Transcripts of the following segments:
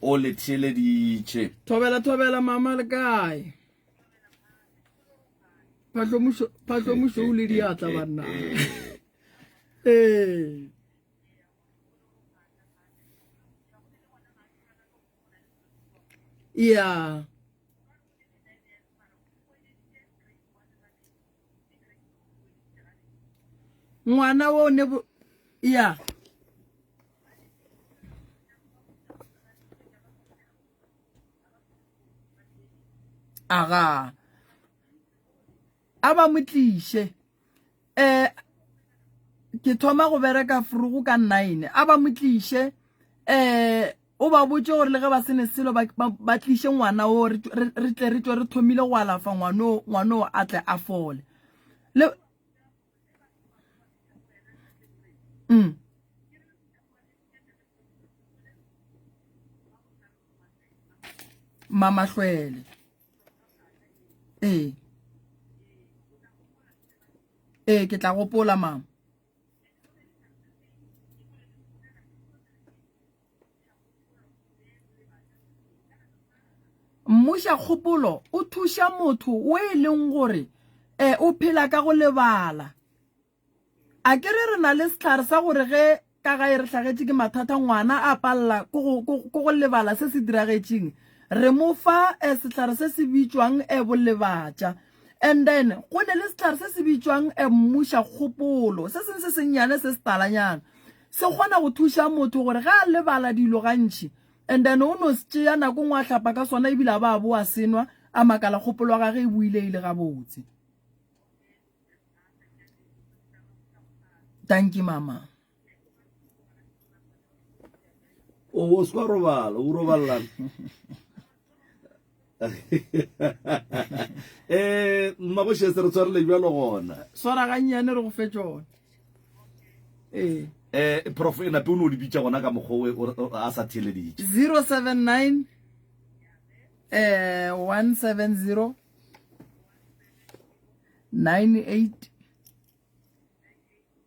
o le theeleditše thobela thobela mama le kae phatlomušo o le diatla banna ee ya ngwana wo ne bo ya aga a ba mo tliše um ke thoma go bereka frugo ka nine a ba mo tliše um o ba botse gore le ge ba sene selo ba tliše ngwana o re tle re tswe re thomile go alafa ngwanoo ngwanoo a tle a fole le mm. mamahlwele ee ee ke tla gopola mama mmuša kgopolo o thuša motho o e leng gore um o phela ka go lebala a ke re re na le setlhare sa gore ge ka gae re tlhagetše ke mathata ngwana a palela ko go lebala se se diragetšeng re mo fa um setlhare se se bitšwang um bolebatša And then go ne le setlhare se se bitšwang a mmuša kgopolo se seng se sennyane se se talanyana se kgona go thuša motho gore ga a lebala dilo gantši and then o no se tšea nako ngwe a hlapa ka sona ebile a ba a bo a senwa a makala kgopolo ya gage e buile e le gabotse tanki mama o o swa robala o robalela eh mmagoshe se re tshwarele bjalo gona swara gannyane re go fe tsone eh eh prof ena pe o ne o di bitša gona ka mokgowe a sa theleditše 079 eh 170 98 98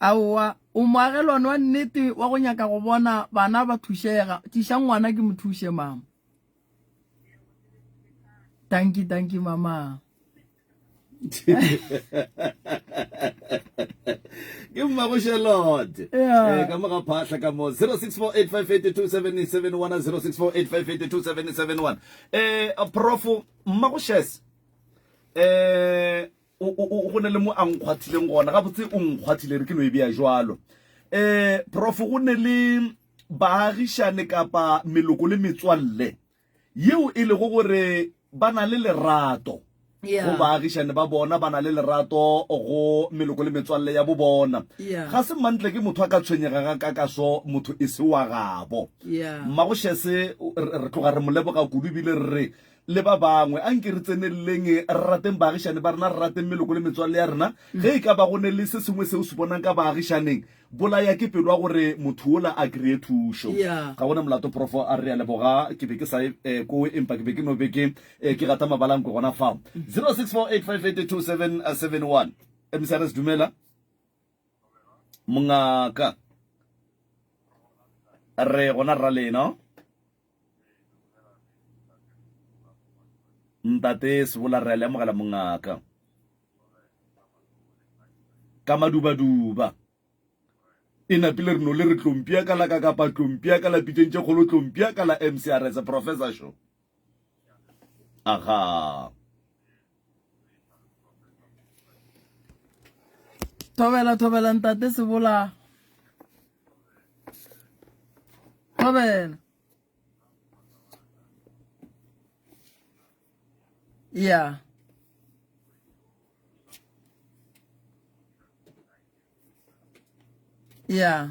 aowa o moagelwane wa nnete wa go nyaka go bona bana ba thušega tiša ngwana ke mo thuše mama tanki tanki mama ke mmago charlotte eh, ka moga phahla ka mo 0648582771 eh profo mmago shes eh go ne le mo a nkgwathileng gona gabotse o nkgwathile re ke no e bea jalo eh profo go ne le baagišane kapa meloko le metswalle yeo e lego gore ba na le lerato yeah. go baagišane ba bona ba na le lerato go meloko le metswalle ya bo bona yeah. ga se mantle ke motho a ka tshwenyega ga ka kaso motho e se wa gabo yeah. mmagošese re tloga re moleboga kudu ebile re re le ba bangwe a nke re tseneleleng re rateng baagišane ba rena re rateng meloko le metswalle ya rena mm. ge e ka ba go ne le se sengwe seo se bonang ka baagišaneng Bolaya ke pelwa gore motho wola a kreye thušo. Ga gona molato profo a re a leboga ke be ke sa e eh, kowe empa ke be ke no be ke eh, ke gata mabalankwe gona fa 0648582771 msrs dumela mongaka re gona rra lena Ntate Sebola, re a le amogela mongaka. Ka madubaduba. E napile re no le re tlompia ka la ka kapa tlompia ka la pitšeng tše kgolo tlompia ka la MCRS Professor Show. Aha. thobela thobela ntate sebola thobela yeah yeah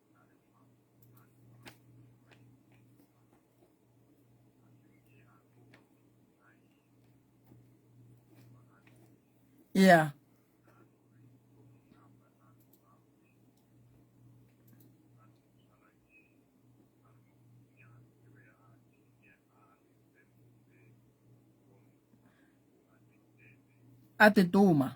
Yeah. A te toma.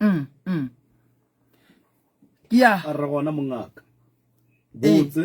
mm mm ya a re gona mongaka botse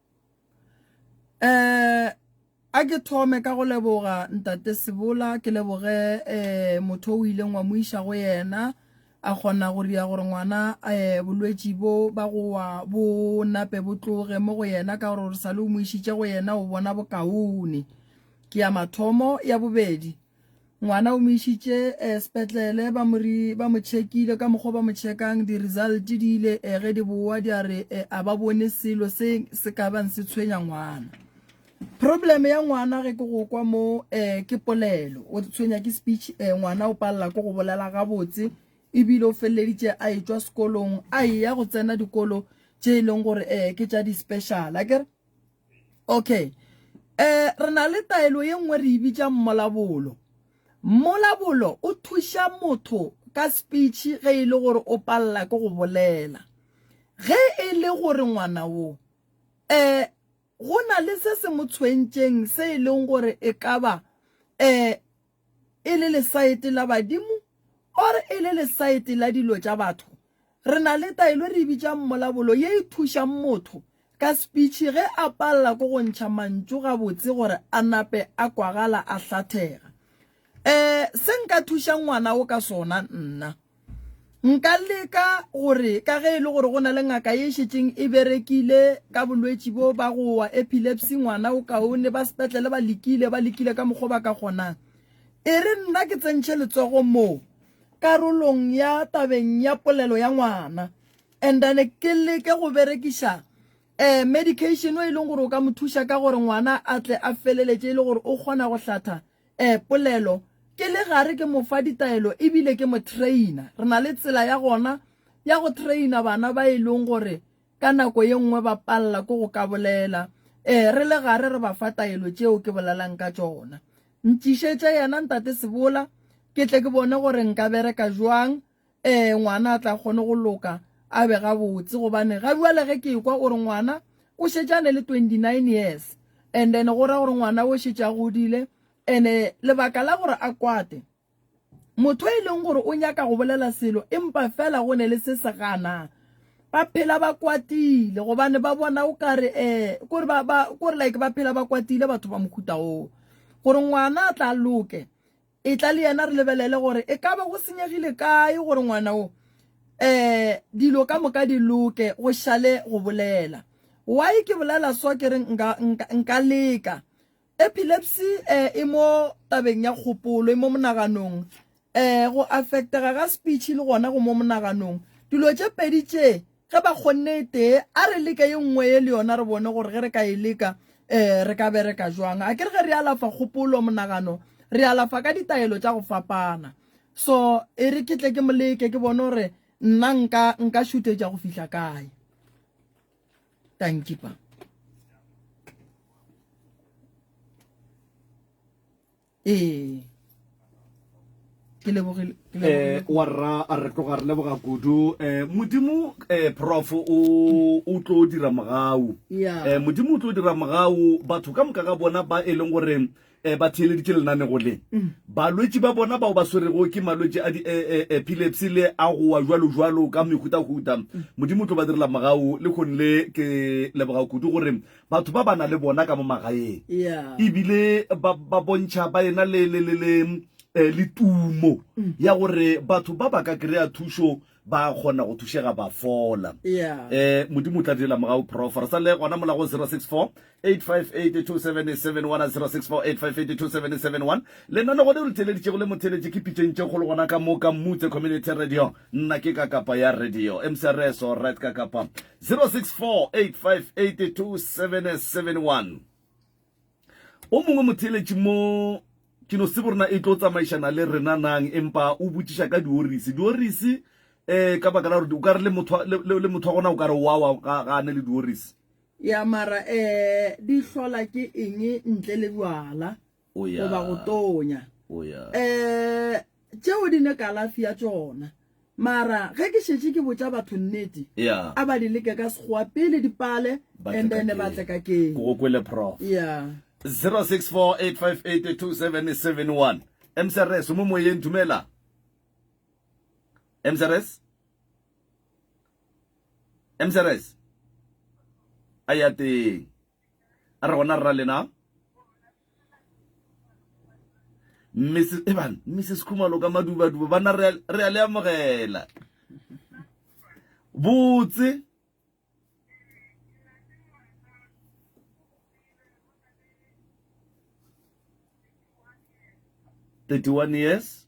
um a ke thome ka go leboga ntate sebola ke leboge um motho o ileng wa mo iša go yena a kgona go dira gore ngwana um bolwetši bo ba gowa bo nape bo tloge mo go yena ka gore gore sa le o mo išitše go yena o bona bokaone ke ya mathomo ya bobedi Ngwana o mo išitše eh, sepetlele ba mo ri- ba mo tšhekile ka mokgwa o ba mo tšhekang di-result di ile eh, ge di boa di a re eh, a ba bone selo se se ka bang se tshwenya ngwana problem ya ngwana ge ke go kwa mo eh, ke polelo o tshwenya ke speech eh, ngwana o palela ko go bolela gabotse ebile o feleleditše a etšwa sekolong a eya go tsena dikolo tše e leng gore eh, ke tša di-special a kere okay eh re na le taelo ye nngwe re e bitša mmolabolo mmolabolo o thuša motho ka speech ge e le gore o palela ke go bolela ge e le gore ngwana wo eh go na le se se mo tshwentšeng se e leng gore e ka ba eh e le lesaete la badimo or e le lesaete la dilo tša batho re na le taelo re bitšang mmolabolo ye e thušang motho ka speech ge a palela ko go ntšha mantšu gabotse gore a nape a kwagala a hlathega eh se nka thušang ngwana o ka sona nna Nka leka gore ka ge e le gore go na le ngaka e šetšeng e berekile ka bolwetši bo ba go wa epilepsy ngwana o kaone ba sepetlele ba lekile ba lekile ka mokgwa ba ka kgonang e re nna ke tsentšhe letsogo moo karolong ya tabeng ya polelo ya ngwana and then ke leke go berekiša um medication o e leng gore o ka mo thuša ka gore ngwana a tle a feleletše e le gore o kgona go hlatha E, polelo, Ke le gare ke mo fa ditaelo e bile ke mo traina. Re na le tsela ya gona ya go traina bana ba e leng gore ka nako ye nngwe ba palela ke go ka bolela. E, re le gare re ba fa taelo tšeo ke bolelang ka tšona. Ntšišetše yena Ntate Sebola ke tle ke bone gore nka bereka bjang ee ngwana a tla kgone go loka a be gabotse gobane ga jale ge ke kwa gore ngwana o šetše a ne le 29 years and then go ra gore ngwana o šetše a godile ene lebaka la gore a kwate motho e leng gore o nyaka go bolela selo empa fela go ne le se se ganang ba phela ba kwatile gobane ba bona o kare eh kore ba ba kore like ba phela ba kwatile batho ba mokhuta o gore ngwana a tla loke Etla le yena re lebelele gore e ka ba go senyegile kae gore ngwana o um dilo ka moka di loke, go šale go bolela. Why ke bolela so ke re nka, nka, nka leka. Epilepsy um e mo tabeng ya kgopolo, e mo monaganong. Um go affectega ga speech le gona go mo monaganong. Dilo tše pedi tše Ge ba kgonne e tee, a re leke ye nngwe ye le yona re bone gore ge re ka e leka um re ka bereka jwang. A ke re ge re alafa kgopolo, monagano, re alafa ka ditaelo tša go fapana. So, e re ke tle ke mo leke ke bone gore nna nka, nka šuthetša go fihla kae. Tankipa. ee ke lebogile eh wa rra a re tloga re leboga kudu eh modimo eh prof o o tlo dira mogau eh modimo o tlo dira mogau batho ka moka ga bona ba e leng gore eh ba theeleditše lenane go le mm. balwetši ba bona bao ba swerego ke malwetši a di eh, eh, epilepsy le a goa jwalo jwalo ka mehutahuta mm. modimo o tlo ba direla mogau le kgone le ke leboga kudu gore batho ba ba na le bona ka mo magaeng ebile ba bontšha ba ena le le le le eh, le tumo mm. ya gore batho ba ba ka kry-a thušo ba kgona go thušega ba fola eh modimo tla direla mogago prof re sa le gona mola go 064 8582771 lenano gone o le theeleditšego le motheeletše ke pitšentše kgolo gona ka moka mutse community radio nna ke ka kapa ya radio mcrs orit ka kapa 0648582771 O mongwe motheeletši mo Kinosebo rena e tlo tsamaišana le rena nang empa o botšiša ka diorisi. Diorisi eh ka baka la gore o ka re le motho le motho wa gona o ka re wa wa ga ga ne le diorisi. Ya mara eh di hlola ke eng ntle le bjala? o ya goba go tonya o ya um tšeo di ne kalafi ya tšona mara ge ke šetše ke botša batho nnete ya a ba di leke ka sekgowa pele di pale Ba tle and ka then ke. ba tle ka ke ke go kwele prof ya 0648582771 msrs o mo moyeng dumela msrs msrs a ya teng a re gona rra lena mrs eban eh, mrs khumalo ka madubaduba bana re a le amogela botse thirty-one years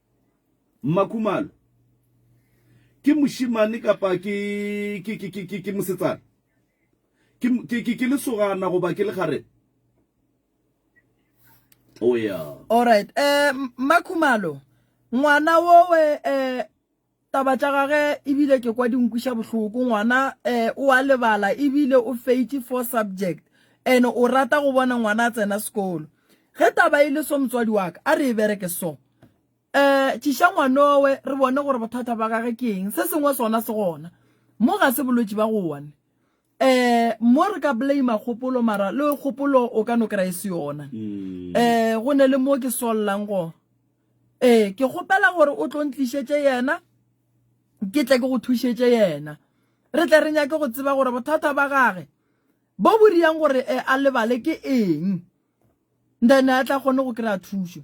Mmakhumalo, Ke mošemane kapa ke, ke, ke, ke, ke, ke mosetsana? Ke, ke, ke, ke lesogana goba ke lekgarebe? O ya. Alright. Eh, Mmakhumalo, ngwana wowe, eh, taba tša gage ebile ke kwa di nkwiša bohloko ngwana um o a lebala ebile o feite four subject and o rata go bona ngwana a tsena sekolo ge taba e le so motswadi wa ka a re e bereke so um eh, tšiša ngwanowe re bone gore bothata ba gage ke eng se sengwe sona se gona mo ga se bolwetši ba go one um mo re ka blame kgopolo mara le kgopolo o ka no kry-e se yona um go ne le mo ke swalelang go ee ke kgopela gore o tlo ntlišetse yena ke tle ke go thušetse yena re tle re nyake go tseba gore bothata ba gage bo bo riyang gore eh, a lebale ke eng then a tla kgone go kry-a thušo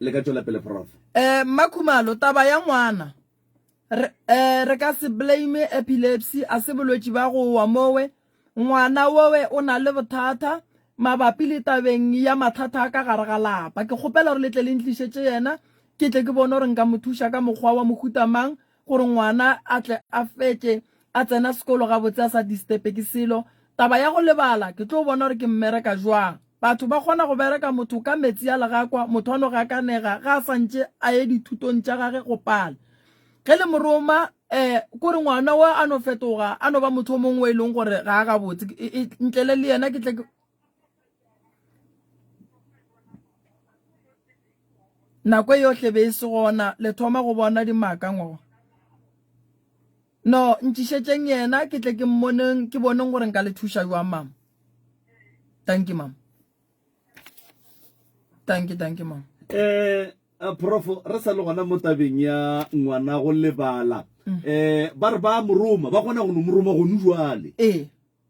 le ka tšwela pele prof eh mmakhumalo taba ya ngwana re, eh, re ka se blame epilepsy a se bolwetši ba go wa mowe ngwana wowe o na le bothata mabapi le tabeng ya mathata a ka gare ga lapa ke kgopela gore le tle le ntlišetše yena ke tle ke bone gore nka mo thuša ka mokgwa wa mohutamang gore ngwana a tle a fetše a tsena sekolo gabotse a sa disturbe ke selo taba ya go lebala ke tlo bona gore ke mmereka jwang batho ba kgona go bereka motho ka metsi a legakwa motho a no gakanega ga a santše a ye dithutong tša gage go pala ge le moroma um kore ngwana wa a no fetoga a no ba motho o mongwe e leng gore ga a gabotse ntlele le yena ke tle nako e yohle be e se gona le thoma go bona dimaka ngo no ntšišetšeng yena ke tle ke mmoneng ke boneng gore nka le thuša jwang mama thank you mama thank you thank you mama eh a profo re sa le gona mo tabeng ya ngwana go lebala eh ba re ba moroma ba kgona go no moroma go nu jwale ee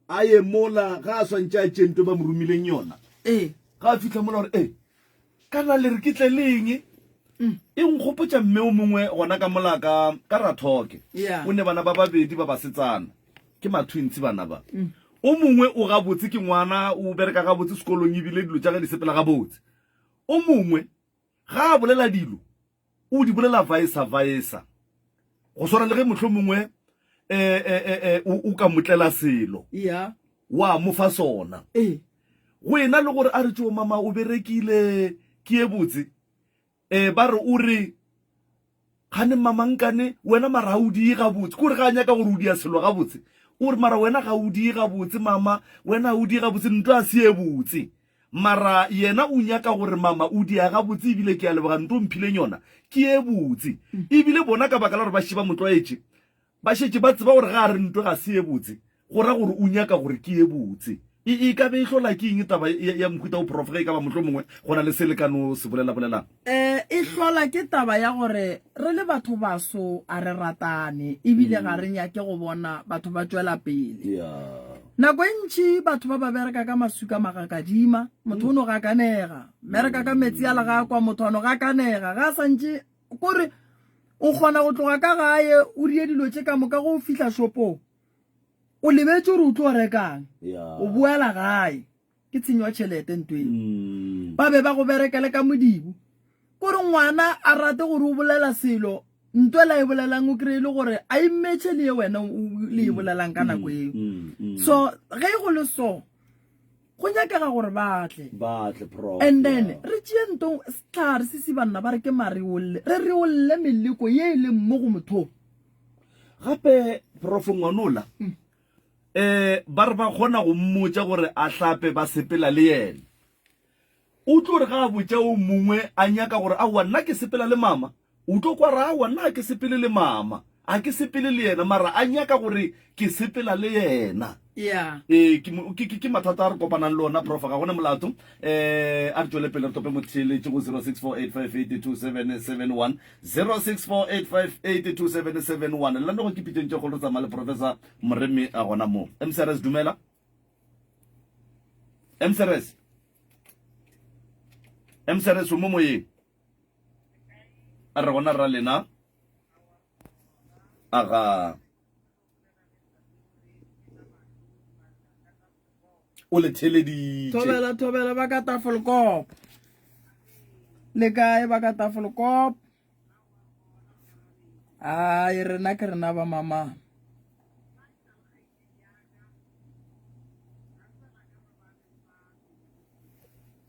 A ye mola, ga a swantše a tšee nto e ba mo romileng yona. Ee. Ga a fihla mola gore, Ee, kana le re ke tle le eng? Mm. E nkgopotša mme o mongwe gona ka mola ka, ka Rathoke. Yeah. O ne bana ba babedi ba basetsana. Ke mathwintshi bana ba. Mm. O mongwe o gabotse, ke ngwana, o bereka gabotse sekolong ebile dilo tša ge di sepela gabotse. O mongwe, ga a bolela dilo, O di bolela vaesa-vaesa, go swana le ge mohlomongwe um o ka motlela selo wa mo fa sona. Go ena le gore a re tšeo mama o berekile ke e botse, um ba re o re kgane mamankane wena mara ga o diye gabotse ke gore ga a nyaka gore o dia selo gabotse o re mara wena ga o diye gabotse mama wena ga o diye gabotse nto a se ye botse Mara yena o nyaka gore mama o dia gabotse ebile ke a leboga nto mphileng yona ke ye botse. Ebile bona ka baka la gore ba šiba motlwaetše ba šetše ba tseba gore ga a re nto ga se ye botse go ra gore o nyaka gore ke ye botse. E e ka be e hlola ke eng taba ya mohuta wo prof ge e ka ba mohlomongwe go na le se le ka no se bolelabolelang? E, e hlola ke taba ya gore re le batho baso a re ratane ebile ga re nyake go bona batho ba tšwela pele Yeah. nako e ntši batho ba ba bereka ka masuka magakadima motho o no gakanega bereka ka metsi a legakwa motho a no gakanega ga a santše kore o kgona go tloga ka gae o rie dilo tše ka moka go fihla shopong o lebetse gore o tlo rekang Yeah. o boela gae ke tshenyo ya tšhelete nto e mm. ba be ba go berekele ka modibo kore ngwana a rate gore o bolela selo nto la e bolelang o kry-e le gore a immetšhe le ye wena le e mm. bolelang ka nako eo mm, so ge e go le so go nyakega gore batle and then re tšee nto setlhare se se banna ba re ke mareolle re reolle meleko ye e leng mo go mothong gape profo ngwanola um ba re ba kgona go mmotša gore a hlape ba sepela le yena. O tlo re ga a botša o mongwe a nyaka gore aowa nna ke sepela le mama, o tlo kwa ra aowa nna ga ke sepele le mama, ga ke sepele le yena mara a nyaka gore ke sepela le yena. Yeah. ee ke mo- ke- ke- ke mathata a re kopanang le ona profa ga gone molato um a re tšwele pele re tope motheeletši go 0648582771 0648582771 le lanogo ke pitšeng tše kgolo re tsamaya le professor moremi a gona mo mcrs dumela mcrs mcrs o mo moyeng a re gona ra lena aga o le theleditše thobela thobela ba ka tafolokop le kae ba ka tafolokop ai rena ke rena ba mama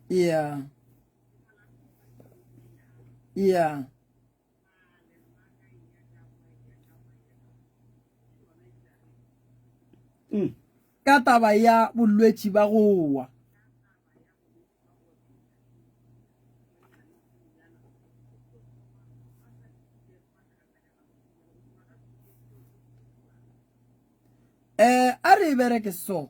yeah yeah Mm. ka taba ya bolwetši ba go wa eh a re e bereke so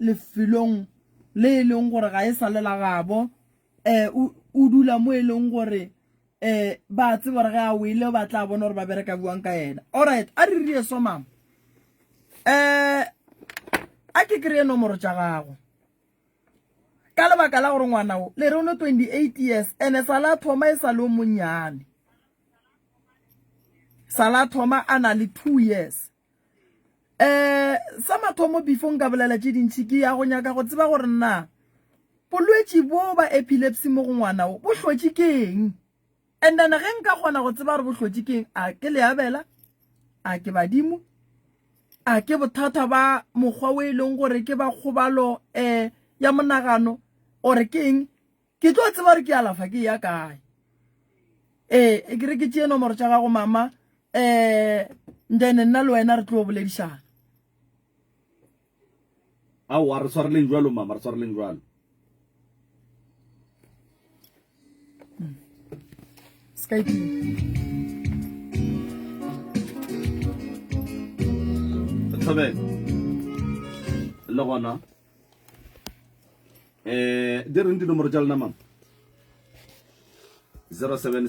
lefelong le e leng gore ga e sa le la gabo um o dula mo e leng gore um ba tseba gore ge a wele ba tla bona gore ba bereka buang ka yena allright a re rie so mama um a ke kry-e nomoro tša gago ka lebaka la gore ngwana o le re o ne twenty eight years and-e sa la thoma e sa le o monnyane sa la thoma a na le two years um sa mathomo before nka bolela tše dintšhi ke ya go nyaka go tseba gore na bolwetši bo ba epilepsy mo go ngwana o bo hlotše ke eng and then ge nka kgona go tseba gore bo hlotše ke eng a ke leabela a ke badimo a ke bothata ba mokgwa o e leng gore ke ba kgobalo um ya monagano ore ke eng ke tlo tseba gore ke alafa ke ya kae ee e ke re ke tšee nomoro tša gago mama um then nna le wena re tlo boledišana aowa re tshwareleng jalo mama re tshwareleng jalo hmm. Skype. le gona Eh, di reng dinomoro tša lena mama 07